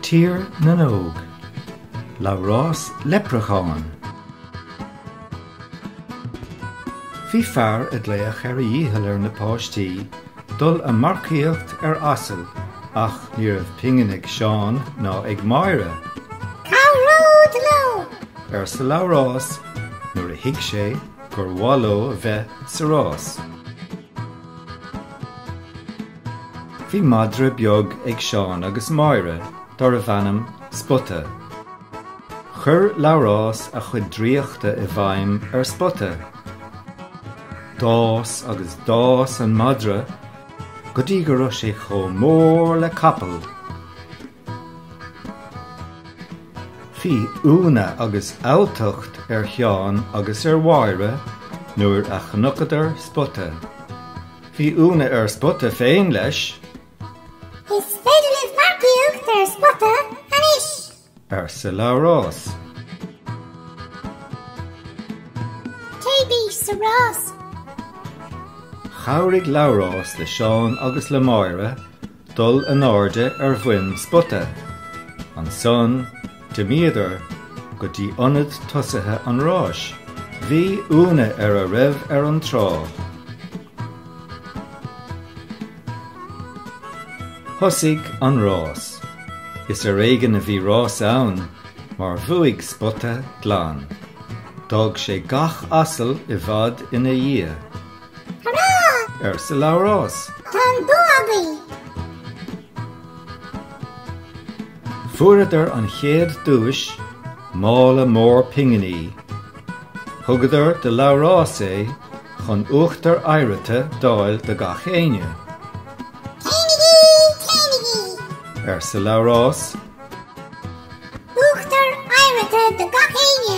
Tír na nÓg, Labhrás Leipreacháin. Bhí fear ag glaoch ar a dhícheall ar na páistí dul a marcaíocht ar asal ach ní raibh pingin ag Seán ná ag Máire. Cabhród leo? arsa Labhrás nuair a thuig sé gur mhaith leo a bheith sa rás. Bhí madra beag ag Seán agus Máire dárbh ainm Spota. Chuir Labhrás a chuid draíochta i bhfeidhm ar Spota. D'fhás agus d'fhás an madra go dtí go raibh sé chomh mór le capall! Bhí ionadh agus alltacht ar Sheán agus ar Mháire nuair a chnocadar Spota. Bhí ionadh ar Spota féin leis. Is féidir libh marcaíocht ar Spota anois! arsa Labhrás. Téigí sa rás! Chabhraigh Labhrás le Seán agus le Máire dul in airde ar dhroim Spota. Ansan d'imíodar go dtí ionad tosaithe an ráis. Bhí ionadh ar a raibh ar an tráigh. Thosaigh an rás. Is ar éigean a bhí rás ann mar bhuaigh Spota glan. D'fhág sé gach asal i bhfad ina dhiaidh. Hurá! arsa Labhrás. Tá an bua againn! Fuaireadar an chéad duais, mála mór pinginí. Thugadar do Labhrás é chun uachtar oighreata d'fháil do gach éinne. Téanaigí! Téanaigí! arsa Labhrás. Uachtar oighreata do gach éinne!